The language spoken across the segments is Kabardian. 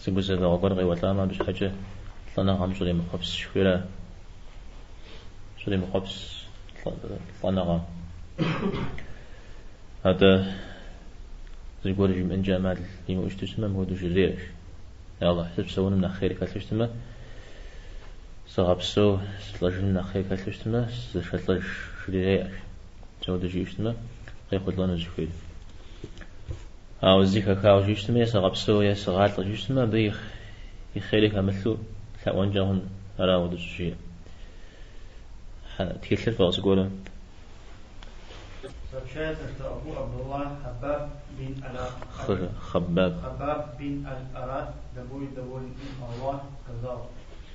Зы гузэвэгъуэ гуэр къеуэлӏамэ, абы щхьэкӏэ лӏэныгъэм щӏремыхъуэпс жыхуиӏэра? Щӏремыхъуэпс лӏэныгъэм. Атӏэ, зыгуэр жимыӏэнкӏэ ӏэмал имыӏэу щыту щытмэ, мыхуэдэу жреӏэж. Аллахь сыпсэуным нэхъ хъер хэлъу щытмэ, сыгъэпсэу сылӏэжыным нэхъ хъер хэлъу щытмэ, сызэшэлӏэж, жреӏэж. Ауэду жиӏэщтмэ, къехъулӏэну зыхуейр. Ауэ зы хэхауэ жиӏэщтмэ, е сыгъэпсэу, е сыгъалӏэ жиӏэщтмэ, абы и хъери хэмылъу лъэӏуэнкӏэ хъун. Ара ауэду щӏыжиӏэ. Тхылъыр фӏэкъ зыгуэру. Сообщается, что Абу Абдулла Хаббаб бин Аль-Арат, Хаббаб бин Аль-Арат, да будет доволен им Аллах, сказал,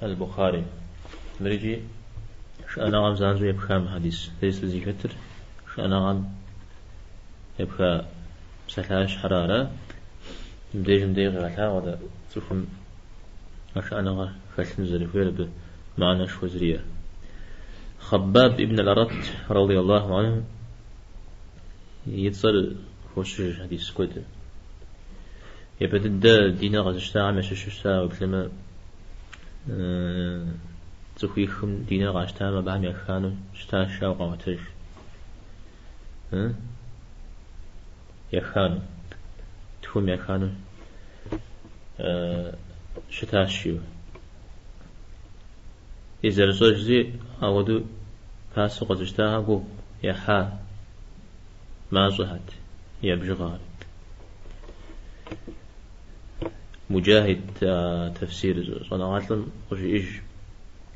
Аль-Бухари. Мыр икӏи шыӏэныгъэм занщӏэу епха мы хьэдис. Езы зыхэтыр шыӏэныгъэм епха псалъащхьэра ара? Мыбдежым дэ къигъэлъагъуэ дэ цӏыхум а шыӏэныгъэр хэлъын зэрыхуейр абы мыхьэнэшхуэ зэриӏэр. Хъэббаб ибн аль-Арат рады Аллаху анху и цӏэр хощыж хьэдис куэдым. Япэ дыдэ диныр къэзыщтахэм ящыщу щыта уеплъэмэ, цӏыхуихым диныр къащтам абыхэм яхану щыта жаӏэу къаӏуэтэж. Яхану. Тхум яхану щыта жиӏэу. И зэрыфщӏэщи ауэду пасэу къэзыщтахэр гугъу ехьа, мащӏэхэт я бжыгъэр. Муджахид тэфсир щӏэныгъэлӏым къыжиӏэж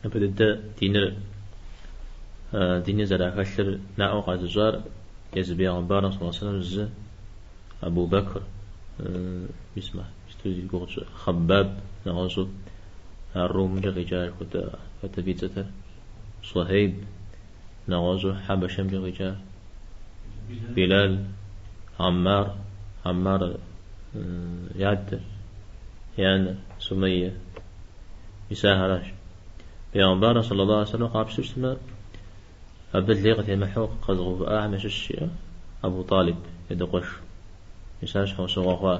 япэ дыдэ диныр диныр зэрахэлъыр наӏуэ къэзыщӏар езы пейгъэмбар саллаллаху алейхи вэсэлэм зы Абу Бэкр мис мы исту зи гугъу тщӏы Хаббаб нэгъуэщӏу ар Румымкӏэ къикӏа апхуэдэ хэт абы и цӏэтэр Суэхейб нэгъуэщӏу хьэбэшэмкӏэ къикӏа Билал, Аммар, Аммар я адэр, я анэр, Сумейе, мис ахэращ. Пейгъэмбар саллаллаху алейхи вэсэлэм къапщтэу щытмэ, абы лей къытемыхьу къэзыгъэувыӏахэм ящыщ жеӏэ Абу Талиб и адэ къуэш. Мис ар щхьэусыгъуэ хъуа.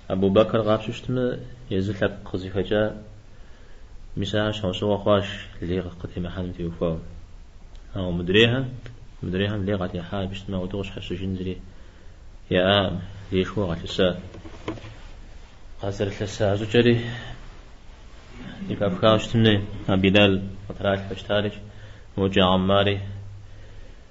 Абу Бэкр къапщтэу щытмэ, езы лъэпкъ къызыхэкӏа Мис ар щхьэусыгъуэ хъуащ лей къытемыхьэным теухуауэ. Ауэ мыдрейхэм, мыдрейхэм лей къатехьа абы щытмэ, ауэдэу къыщхьэщыжын зыри яӏакъым, лейшхуэ къалъыса. Къазэрылъыса щӏыкӏэри зэхэфхауэ щытын, а Билал къытралъхьэу щытарикӏ, модэкӏэ Аммари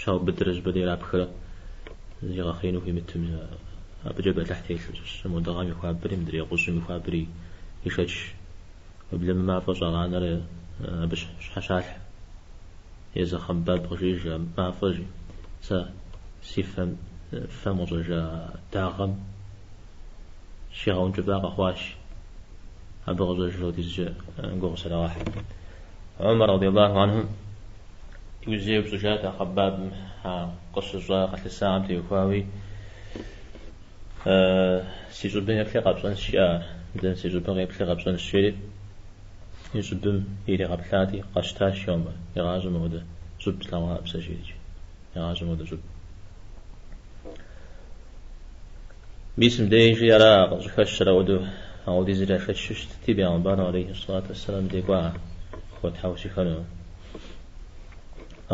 щаубыдрэ жьыбэ дерапхрэ зигъэхъеину хуимытым я абыкӏэ бэлыхь телъу щыщ. Мо дыгъэм и хуабэри, мыдрей гъущӏым и хуабэри ишэч Уеблэмэ мафӏэ щӏагъанэрэ абы щхьэщалъхь езы Хъэббаб къыжеӏэж а мафӏэ жи. Сэ си фэм фэм къыщӏэжа дагъэм. щигъэункӏыфӏа къэхъуащ. Абы къыщӏэж ауэдизкӏэ гугъу срагъэхь. Умар радиаллаху анху иужь еупщӏыжат а Хъэббабым а къыщыщӏа къэлъысагъэм теухуауи, Си щӏыбым еплъи къэпщӏэнщ, жиӏа ар. Дэ си щӏыбым къеплъи къэпщӏэнщ, жери и щӏыбым иригъэплъати, къэщтащ Умар. Игъащӏэ мыуэдэ щӏыб слъэгъуаӏым сэ, жери икӏ. Игъащӏэ мыгъуэдэ щӏыб. Мис мыбдежи ара къыщӏыхэщыр ауэдэу ауэдизыр яшэчу щытти, бегъымбар алейхи сэлату вассэлам дей кӏуа хуэтхьэусыхэну.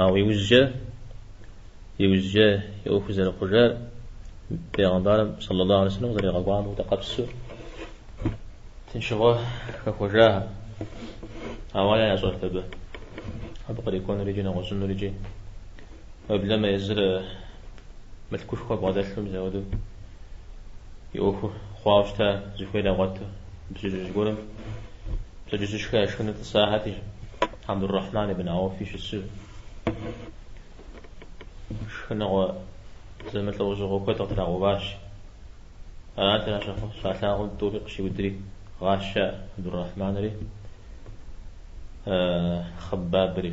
Ауэ иужькӏэ, иужькӏэ и ӏуэхур зэрыхъужар бегъымбарым саллаллаху алейхи вассэлам къызэригъэгугъам хуэдэ къэпсу тыншыгъуэ хэхуэжахэ. Ауэ ара ящӏэрт абы? Абы кърикӏуэнур икӏи нэгъуэщӏынур икӏи. Проблемэ езыр мылъкушхуэ бгъэдэлъу мис ауэду и ӏуэху хъуауэ щыта, зыхуейр игъуэту пщэдджыжь гуэрым пщэдджыжьышхэ яшхыну тӏысахэти, Абдуррахьман ибн Ауфи щысу, шхыныгъуэ зэмылӏэужьыгъуэ куэд къытрагъэуващ. Арат ар щалъагъум тӏури къыщиудри гъаща Абдуррахьманри Хъэббабри.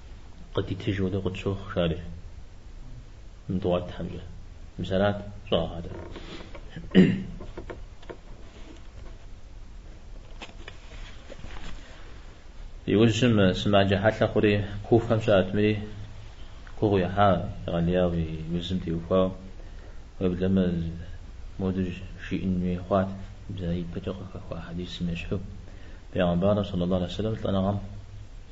Къыдитыж уэдэу къытщохъу, жари. Мдуар Тхьэмкӏэ. Мис арат щӏагъагъатэр. Иужьым сымаджэ хьэлъэ хъури, Куфэм щыӏэтмри, гугъу ехьа егъэлеяу и узым теухуауэ, уеблэмэ модеж жиӏэн хуей хъуат, бзэ ипэкӏэ къыхэхуа хьэдисым ещхьу, Бегъымбарым, сэллаллаху алейхи вэсэлэм, лӏэныгъэм,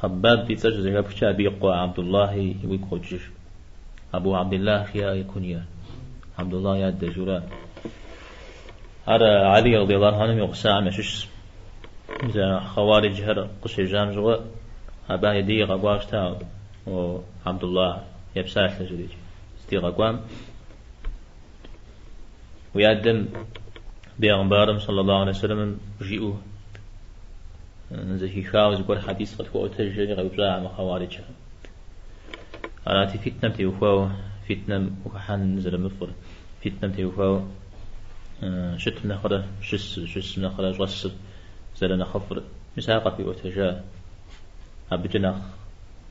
Хаббаб и цӏэр щызэхэпхкӏэ абы и къуэ Абдуллахи уигу къокӏыж. Абу Абдиллах яӏэ и кунья. Абдуллах и адэ жиӏэу ара. Ар Али радиаллаху анхум и гъусагъэм ящыщщ. Зэ хъэуариджхэр къыщежьам щыгъуэ абы я дей игъэкӏуа щыта Абдуллах епсалъэ жери икӏ. Здигъэкӏуам Уи адэм бегъымбарым саллаллаху алейхи вассаламым жиӏэу зэхихауэ зыгуэр хьэдис къытхуэӏуэтэж жери къеупщӏа мы хъэуариджхэр. Арати фитнэм теухуауэ, фитнэм ухыхьэн зэрымыфӏыр, фитнэм теухуауэ щытым нэхърэ щысыр, щысым нэхърэ щӏэсыр зэрынэхъыфӏыр. Мис ар къахуиӏуэтэжа абыкӏэ нэхъ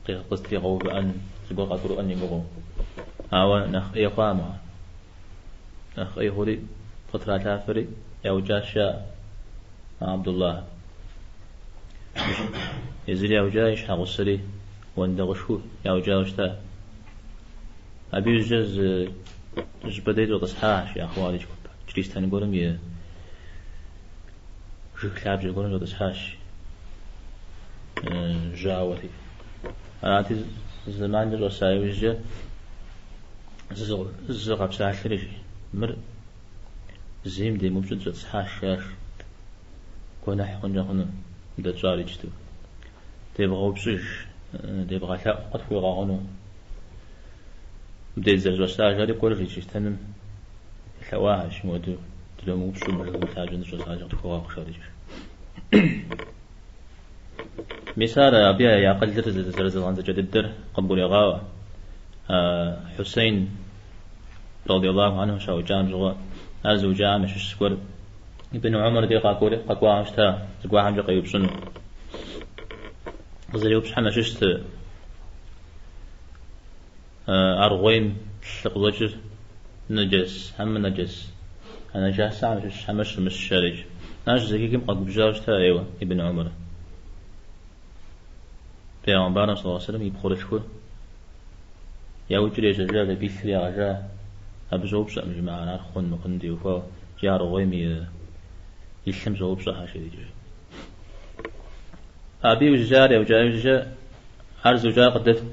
къызэтригъэувыӏэн, зыгуэр къагурыӏуэн и гугъэу. Ауэ нэхъ ӏей хъуамэ. Нэхъ ӏей хъури, къытралъафэри, яукӏащ а Абдуллахь. Езыр яукӏа и щхьэгъусэри, уэндэгъушхуэу яукӏауэ щыта. Абы иужькӏэ зы щӏыпӏэ дей щӏэтӏысхьащ а хъуаридж гупыр, чристэн гуэрым и жыг лъабжьэ гуэрым щӏэтӏысхьащ жьауэти. Арати, зэманкӏэ щӏэса иужькӏэ зы къэпсалъэри жи. Мыр зейм демыупщӏу дыщӏэтӏысхьащ, жиӏащ. Гуэныхь хъункӏэ хъуну мы дэ тщӏар иджыту. Девгъэупщӏыж, девгъэлъэӏу къытхуигъэгъуну. Мыбдеж дызэрыщӏэсар жари кӏуэри жи чристэным. Лъэӏуащ, мыуэду дыномыупщӏу мы жыгым лъащӏэ дыщӏэсащи къытхуэгъэгъу, къыщадэкӏыж. Мис ар абы я акъылыр зэрызэгъэдзэкӏа дыдэр къыбгурегъаӏуэ. Хьусейн радиаллаху анху щаукӏам щыгъуэ, ар зыукӏам ящыщ зыгуэр Ибн Умар дей къакӏуэри къэкӏуагъэм щыта, зыгуэхьэмкӏэ къеупщӏыну. Къызэреупщӏхьэм ящыщт. Аргъуейм лъы къыщӏэкӏыр нэджэс, хьэмэ нэджэс. А нэджасэхьэм щыщ, хьэмэ щымыщ жари жи. Ар щызэхихым къэгубжьауэ щыта ӏейуэ Ибн Умар. Пэйгъэмбарым саллаллаху алейхи ва сэллэм и пхъурылъхур яукӏри ежьэжа, абы и лъыр ягъэжа. Абы щӏоупщӏэкъым жи мыхьэр ар хъун мыхъуну теухуауэ икӏи аргъуейм и и лъым щӏоупщӏэхьэ жи дикӏыжу. Абы иужькӏэ ар яукӏа иужькӏэ ар зыукӏар къыдэфт.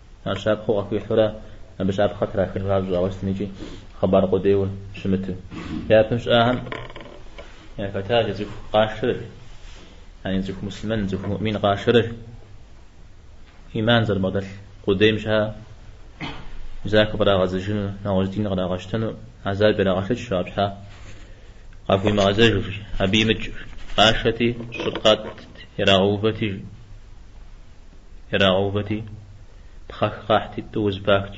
Ар щапхъэу къахуихьурэ абы щапхъэ трахын жагъуэ щӏауэ щытын икӏи хъыбар къудейуэ щымыту. Япэм щыӏахэм яхэтащ жи цӏыху къашэрыр, яни и цӏыху муслъымэн, цӏыху муӏмин къашэрыр. Иман зэрыбгъэдэлъ къудейм щхьа захуэ кърагъэзэжыну, нэгъуэщӏ дин кърагъэщтэну азаб ирагъэшэчт, абы щхьа къахуимыгъэзэжыр, абы имыкӏ къашэти, щӏыр къатӏт, ирагъэувэти. ирагъэувэти, пхъэх къахьти тӏууэ зэпахт,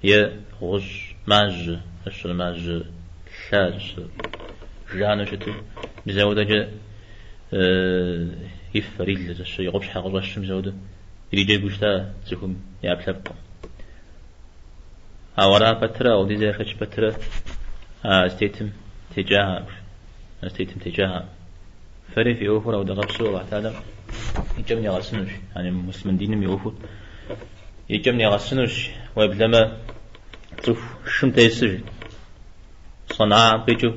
е гъущӏ мажьэ, ӏэщыр мажьэ лъа жысӏэ жану щыту, бзэудэкӏэ и фэр, и лыр, ӏэщэ и къупщхьэ къыщӏэщым бзэудэ ириджэгуу щыта цӏыхум и ӏэпкълъэпкъым. Ауэ ара пэтырэ, ауэдиз яшэч пэтырэ а зытетым текӏахэм, зытетым текӏахэм. Фэри фи ӏуэхур ауэдэ къабзэу Алыхь Тэхьэлам и кӏэм нигъэсынущ, яни муслъымэн диным и ӏуэхур и кӏэм нигъэсынущ. Уеблэмэ цӏыху шым тесыж, Санаам къикӏыу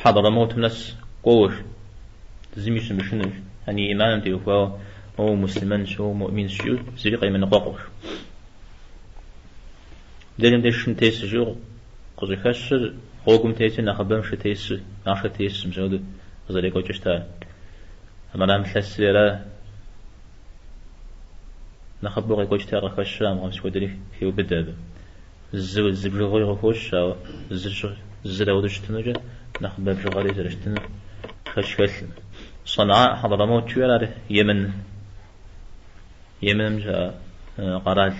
Хьэдрамотым нэс кӏуэуэш, зыми щымышынущ, яни ӏиманым теухуауэ уэ умуслъымэнщ, уэ умуӏминщ жиӏэу зыри къемыныкъуэкъуэш. Дежым деж шым тесыжу Къыщӏыхэщыр гъуэгум тети нэхъыбэм шы тесу, махъшэ тесу мис ауэду къызэрекӏуэкӏыу щытар. Амрам лъэсри ара нэхъыбэу къекӏуэкӏти ар къыхэщу амыгъэм сыхуэдэри хеубыдэ абы. Зы, зы бжыгъэуи къыхощ, ауэ зыр ауэду щытынукӏэ нэхъыбэ бжыгъэри зэрыщытынур шэч хэлъым. Санаа, Хьэдрамот жиӏэр ар Йемен Йеменым щыӏэ къэрал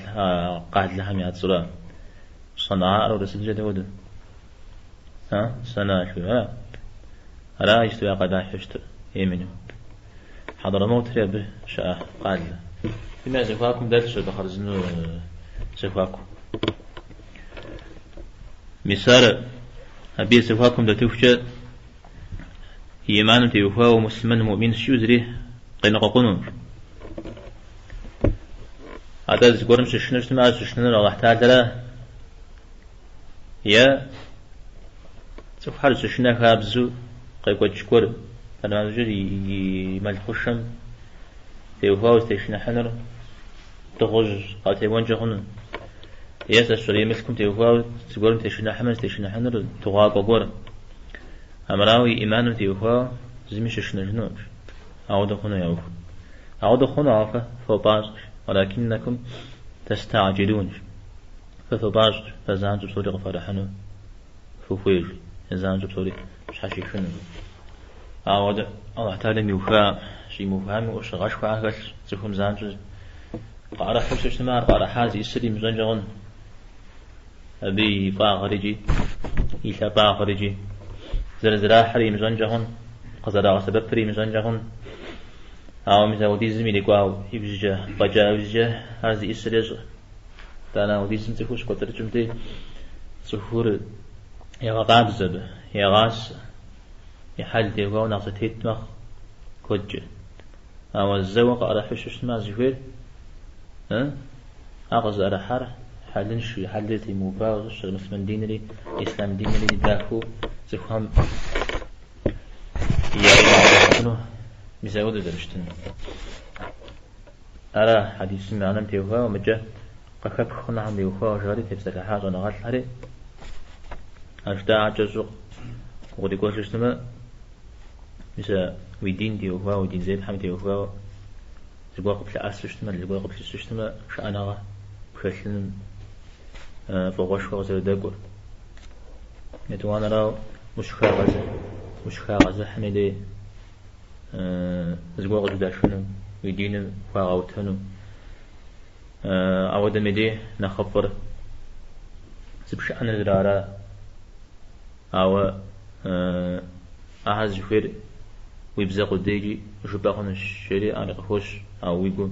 къалэхэм я цӏэра. Санаар урысыбзэкӏэ дауэду? А? Санаа жыхуиӏэ ара? Ара иджыпсту я къалащхьэу щытыр Йеменым. Хьэдрамовтри абы щыӏэ къалэ. Мыдым я зэхуакум дэлъщ абы хъарзынэу зэхуаку. Мис ар абы и зэхуакум дэтыхукӏэ Иманым теухуауэ муслъымэн, муӏмин жиӏэу зыри къеныкъуэкъуну. Атӏэ зыгуэрым щышынэу щытмэ, ар щышынэнур Аллахь Тэхьэлара е цӏыхухэр щышынэ хабзу къекӏуэкӏ гуэр, арман щӏыкӏэр и мэл хъушэм теухуауэ зытешыныхьынур. Дыгъужь къатеуэнкӏэ хъуну? Е сэ сщӏэрей мылъкум теухуауэ зыгуэрым тешыныхьмэ, зытешыныхьынур дыгъуакӏуэ гуэр. Амрауэ и ӏиманым теухуауэ зыми щышынэжынукъыш. Ауэдэ хъуну я ӏуэху. Ауэдэ хъуну, ауэ фэ фопӏащӏэш. Уалакиннакум таста'джилунш. Фэ фопӏащӏэш, фэ занщӏэу псори къыфӏэрыхьэну фыхуейш. Занщӏэу псори. щхьэщихынукъым. Ауэ Аллахь Тэхьэлам иуха, щӏимыухами ӏущыгъэшхуэ хэлъщ, цӏыхум занщӏэу къаӏэрыхьэу щытмэ, ар къаӏэрыхьар зиӏисыр имыщӏэнкӏэ хъун. Абы и фӏагъыр икӏи и лъапӏагъыр икӏи зэрызэрахьыр имыщӏэнкӏэ хъун, къызэрагъэсэбэпыр имыщӏэнкӏэ хъун. Ауэ мис ауэдизым ирикӏуа ибжьыкӏэ, фӏэкӏа ибжьыкӏэ ар зиӏисыр ещӏэ. Итӏанэ ауэдизым цӏыхур щыкӏуэцӏрыкӏым дей, цӏыхур егъэкъабзэ абы, егъасэ, и хьэл теухуауэ нэхъ зэтет мэхъу куэдкӏэ. Ауэ зэуэ къыӏэрыхьэу щытмэ, а зыхуейр, э, ар къызыӏэрыхьар хьэлыншэу, и хьэлри зэтемыувауэ щыщ, муслъымэн динри, ислъам динри дахэу цӏыхухэм яӏыгъыу зэрыщытыну, мис ауэдэу зэрыщытыну. Ара хьэдисым и мыхьэнэм теухуауэ мыкӏэ къыхэпх хъунухэм теухуауэ жари тепсэлъыхьа щӏэныгъэлӏхэри а жаӏа кӏэщӏу укърикӏуэжу щытмэ, мис а уи дин теухуауэ, уи дин зепхьэм теухуауэ зыгуэр къыплъыӏэсу щытмэ, зыгуэр къыплъысу щытмэ, шыӏэныгъэ пхэлъыным фӏыгъуэшхуэ къызэрыдэкӏуэр. Етӏуанэрауэ, ущыхагъэзыхьым и дей зыгуэр къыщыдэшыну, уи диныр хыуагъэутэну. Ауэ дэ меди нэхъыфӏыр зыпшыӏэныр зэрыара. Ауэ ахэр зыхуейр уи бзэ къудейкӏи жыпӏэ хъунущ, жери ар къыхощ, ауэ уи гум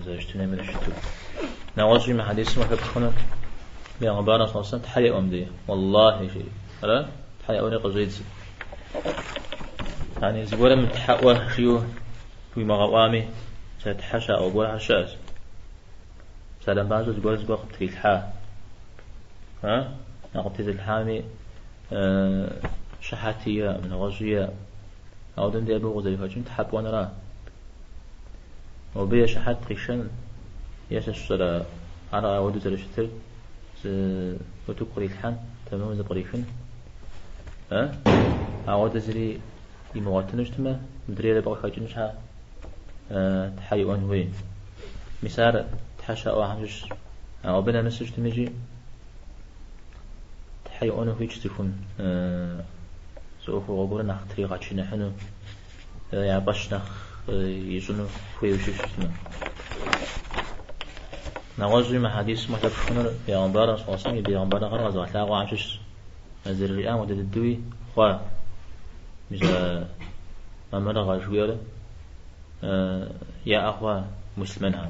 зэрыщытынэмрэ щыту. Нэгъуэщӏи мы хьэдисым къыхэпхыну Бегъымбарым саллаллаху алейхи ва саллям Тхьэ еӏуэ мыдей, Уаллахи, жери. Ара? Тхьэ еӏуэри къыщӏедзэ. Яни зыгуэрым тхьэ ӏуэ жиӏэу хуимыгъэӏуами, сэ тхьэ щаӏуэ гуэрхэр щыӏэщ. Псалъэм папщӏэ зыгуэр зыгуэр къыптрилъхьа. А? А къыптезылъхьами, щыхьэти е, нэгъуэщӏи е. Ауэ дэ мыбдеж абы укъызэрыхэкӏын тхьэ пӏуэнра? Мобы е щыхьэт къишэн, е сэ сщӏэрэ ар ауэду зэрыщытыр? Зы утыку кърилъхьэн, тэмэму зэпкърихын. Э? Ауэдэ зыри имыгъуэтыну щытмэ, мыдрейр абы къыхэкӏын щхьэ, э, Тхьэ иӏуэн хуей. Мис ар Тхьэ щаӏуэхьэм щыщщ. Ауэ абы нэмысу щытмикӏи, Тхьэ иӏуэну хуейщ цӏыхум, э, зы ӏуэхугъуэ гуэрыр нэхъ тригъэчыныхьыну. я фӏэщ нэхъ ищӏыну хуейуэ щыщытмэ. Нэгъуэщӏи мы хьэдисым къыхэпхынур Бегъымбар саллаллаху алейхи ва саллям и бегъымбарыгъэр къэзыгъэлъагъуэхьэм щыщщ. А зэрыжиӏам хуэдэ дыдэуи хъуа мис а мамырыгъэ жыхуиӏэр яӏэ хъуа муслъымэнхэм?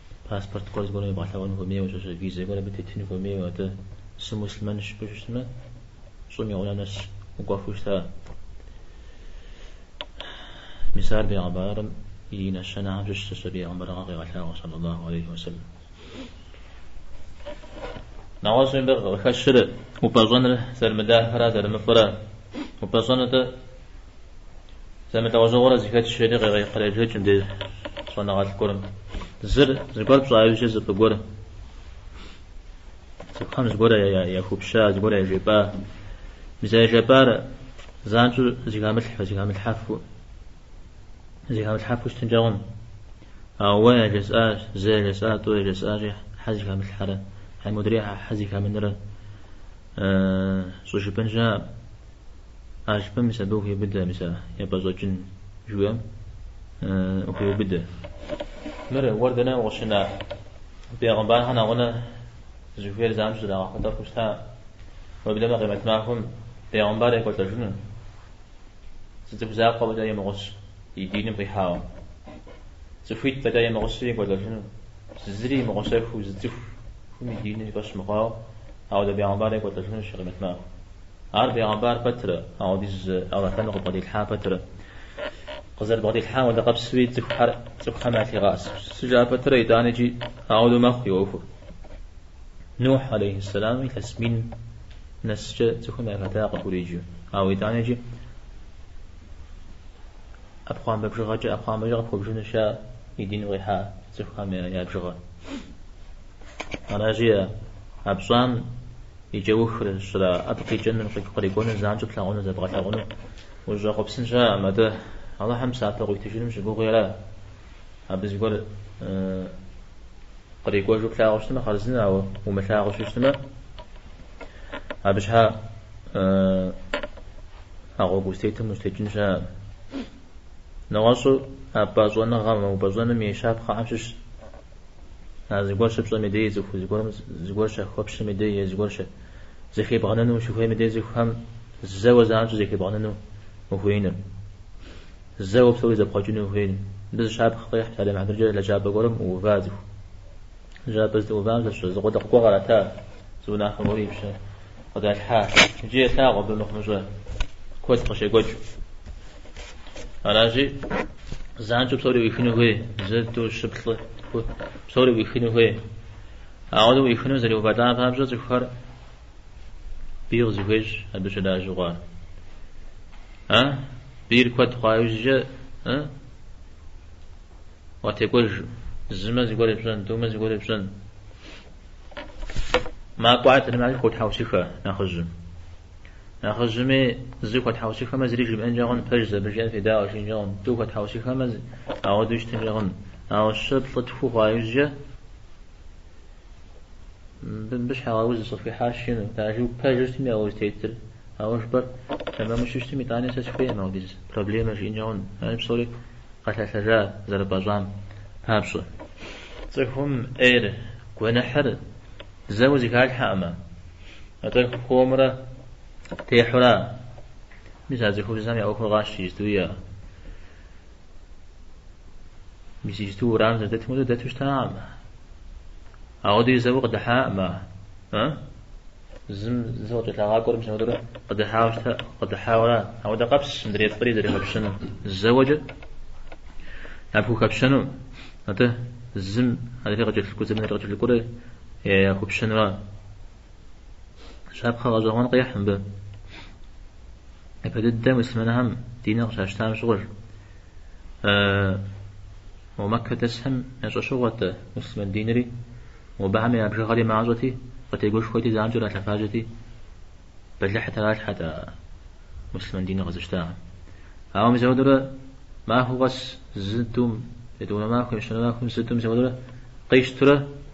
Паспорт гуэр зыгуэрым ебгъэлъэгъуэн хуэмейуэ, щыщ визэ гуэр абы тетын хуэмейуэ. Атӏэ, сымуслъымэнщ жыпӏэу щытмэ, щӏым и гъунэ нэс укӏуэфу щыта. Мис ар бегъымбарым и нэщэнэхэм щыщ зыщ, и бегъымбарыгъэ къегъэлъагъуэ, саллаллаху алейхи ва саллям. Нэгъуэщӏ мыбы къыхэщыр упӏэщӏэныр зэрымыдахэрэ зэрымыфӏырэ. Упӏэщӏэныр. Зэмылӏэужьыгъуэрэ зыхэтщ жери къребжэкӏ мыбдеж щӏэныгъэлӏ гуэрым. Зыр, зыгуэр пщӏа иужькӏэ зыпӏы гуэр. Цӏыхухэм зыгуэр яхуэпщӏа, зыгуэр яжепӏа. Мис а яжепӏар занщӏэу зыхамылъхьэу, зыхамылъхьэфу, зыхамылъхьэфу щытынкӏэ хъунщ. Ауэ уэ яжесӏащ, зэ яжесӏа, тӏу яжесӏащи, щхьэ зыхамылъхьэрэ, хьэмэ мыдрей щхьэ зыхамынрэ щӏыжыпӏын щыӏэкъым. Алъпэ мис абы ухуеубыдэ, мис а япӏэщӏэкӏын жыхуиӏэм ухуеубыдэ. Мыр уэр дэнэ укъыщына? Бегъымбархэр нэгъунэ зыхуейр занщӏэу зрагъэгъуэтэхыу щыта? Уеблэмэ Къимэт махуэм бегъымбар екӏуэлӏэжыну? Зы цӏыху закъуэ фӏэкӏа имыгъусэу и диным къихьауэ? Цӏыхуитӏ фӏэкӏа имыгъусэу екӏуэлӏэжыну? Зыри имыгъусэхыу зы цӏыхум и диныр и фӏэщ мыхъуауэ, ауэдэ бегъымбар екӏуэлӏэжынущ Къимэт махуэм. Ар бегъымбар пэтрэ, ауэдиз ӏэгъэхэныр къыбгъэделъхьа пэтрэ. Къызэрыбгъэделъхьам хуэдэ къабзэу и цӏыхухэр цӏыхухэм ялъигъэӏэсыжа пэтрэ, итӏани икӏи ауэдэу мэхъу и ӏуэхур. Нухь, алейхьэссэлам, илъэс мин нэскӏэ цӏыхум яхэта къыхуриджэу, ауэ итӏани икӏи ӏэпхъуамбэ бжыгъэкӏэ, ӏэпхъуамбэкӏэ къыпхуэбжыну щыта и дин къихьа цӏыхухэм я бжыгъэр. Аращи а пщӏам и кӏэухыр, щӏра, абы къикӏынур, къыкърикӏуэнур, занщӏэу плъагъунур, зэбгъэлъагъунур, ущӏэхъуэпсын щыӏэкъым, атӏэ Алыхьым псапэ къыуитыжыным ущыгугъынра. Абы зыгуэр кърикӏуэжу плъагъуу щытмэ, хъарзынэ, ауэ умылъагъуу щытмэ, абы щхьа а гъуэгу узытетым ущӏытекӏын щыӏэкъым. Нэгъуэщӏу а пӏащӏэныгъэм, а упӏэщӏэным и щапхъэхэм щыщ А зыгуэр щыпщӏэм и дей, цӏыху зыгуэрым зыгуэр щыхуэпщӏэм и дей е зыгуэр зэхебгъэнэну ущыхуейм и дей цӏыхухэм зэуэ занщӏэу зэхебгъэнэну ухуеиныр. Зэуэ псори зэпхъуэкӏыну ухуеиныр. Мыбы зы щапхъэ къехь псалъэм и хьэтыркӏэ лэжьапӏэ гуэрым ӏуува цӏыху. Лэжьапӏэ зыӏуувам занщӏэу зы къулыкъу гуэр къырата, зы унафэ гуэри и пщэ къыдалъхьа, иджы елъагъу абы мыхъумыщӏэ куэд къыщекӏуэкӏыу. Аращи, занщӏэу псори ӏуихыну хуей, зы, тӏу, щы, плӏы, псори ӏуихыну хуей. Ауэдэ ӏуихыну зэреувэлӏам папщӏэ цӏыхухэр бий къызыхуещӏ абы щылажьэу хъуар. А? Бийр куэд хъуа иужькӏэ, а? Уатекӏуэж, зымэ зыгуэр епщӏэн, тӏумэ зыгуэр епщӏэн. Макӏуэ адрейм хуотхьэусыхэ нэхъыжьым. Нэхъыжьми зы хуэтхьэусыхэмэ зыри жимыӏэнкӏэ хъун, пэжщ, абы жиӏэм федаӏуэ жиӏэнкӏэ хъун, тӏу хуэтхьэусыхэмэ ауэдэу щытынкӏэ хъун. Ауэ щы плӏы тху хъуа иужькӏэ мыбы щхьэуз схуихьащ жиӏэну, тэджу, пэжу щытми уэ узытетыр, уэ жыпӏэр тэмэму щытми, итӏани сэ сыхуейкъым ауэдиз проблемэ жиӏэнкӏэ хъун, ар псори къэлъэлъэжа зэрыпӏэщӏам папщӏэ. Цӏыхум ӏейр, гуэныхьыр зэуэ зыхалъхьэкъым, атӏэ хуэмурэ техьура? Мис а цӏыхубзхэм я ӏуэхур къащтэ иджыпсту иӏэ. Мис иджыпсту уэрам зэрыдэтым хуэдэу дэту щытакъым. Ауэдэ зэуэ къыдыхьаӏым а? Ы? Зым зы къыкӏэлъагъакӏуэри мис ауэдурэ къыдыхьауэ щытэ, къыдыхьауэра? Ауэдэ къабз мыдрей фӏыри зэрыхэпщэну, зэуэкӏэ япхухэпщэну, атӏэ зым адрей къыкӏэлъыкӏуэ, зым адрей къыкӏэлъыкӏуэрэ яхупщэнура? Щапхъэ гъэщӏэгъуэн къехь мыбы. Япэ дыдэ муслъымэнхэм диныр къыщащтам щыгъуэ, жи. Мо Маккэ дэсхэм ящӏэщыгъуэт муслъымэн динри, мобыхэм я бжыгъэри мащӏэти, къытегушхуэти занщӏэу ралъэфажьэти, бэлыхь таралъхьэт а муслъымэн диныр къэзыщтагъэм. Ауэ мис ауэдурэ махуэу къэс зы тӏум, етӏуанэ махуэм, ещанэ махуэм зы тӏу, мис ауэдурэ къищтурэ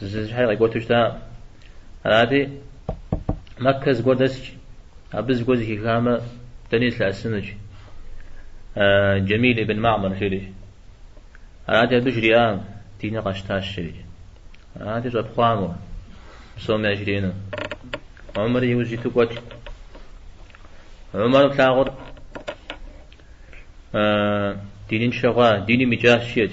Зызыщхьэри къекӏуэту щыта. Арати, Маккэ зыгуэр дэсщ, абы зыгуэр зыхихамэ, дэни злъэӏэсынущ. Джэмил ибн Маъмар жери. Арати, абы жриӏам, диныр къэсщтащ жери. Арати, щӏэпхъуа мо псоми яжриӏэну. Умэр иужь иту кӏуэт. Умэр плъагъур диныншэ хъуа, диным икӏащ, жиӏэт.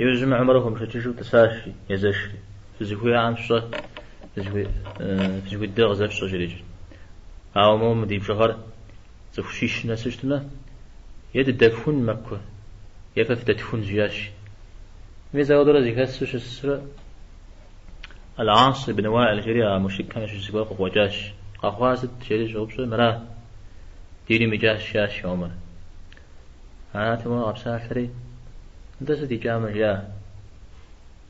Иужьым Умэр хуэмышэчыжу тӏысащ езэшри. Фызыхуиӏэм фщӏэ, фызыхуейдэр къызэфщӏэ, жриӏэщ. Ауэ моуэ мы ди бжыгъэр цӏыху щищ нэсу щытмэ, е дыдэфхун Маккэ, е фэ фыдэтхун, жиӏащ. Мис ауэдурэ зэхэсу щысрэ Аль-Ас ибн Уаил жри а мушрикхэм ящыщ зыгуэр къыкъуэкӏащ. Къэхъуар сыт? жери щӏоупщӏэ, Мыра, диным икӏащ, жиӏащ Умэр. Арати, уэ къэпсалъэри, Нтӏэ сыт икӏамэ, жа?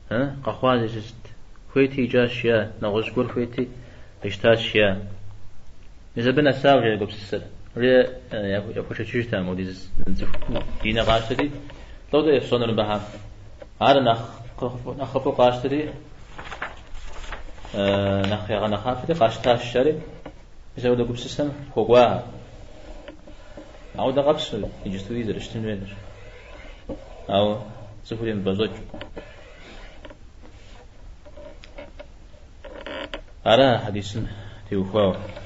Э, къэхъуа зи сыст? Хуейти икӏащ, жа, нэгъуэщӏ гуэр хуейти къищтащ, жа. Мис абы нэсауэ, жа, я гупсысэр. Уэ яхуэшэчыжт а модиз цӏыху диныр къащтэри, лӏо-тӏэ ефщӏэнур абыхэ. Ар нэхъыфӏу къащтэри, нэхъ ягъэнэхъапэри къащтащ ари. Мис апхуэдэ гупсысэм хуэкӏуахэ. Ауэдэ къабзэу иджыстуи зэрыщытын хуейдэр. Ауэ цӏыхур емыпӏэщӏэкӏыу. Ара а хьэдисым теухуауэ?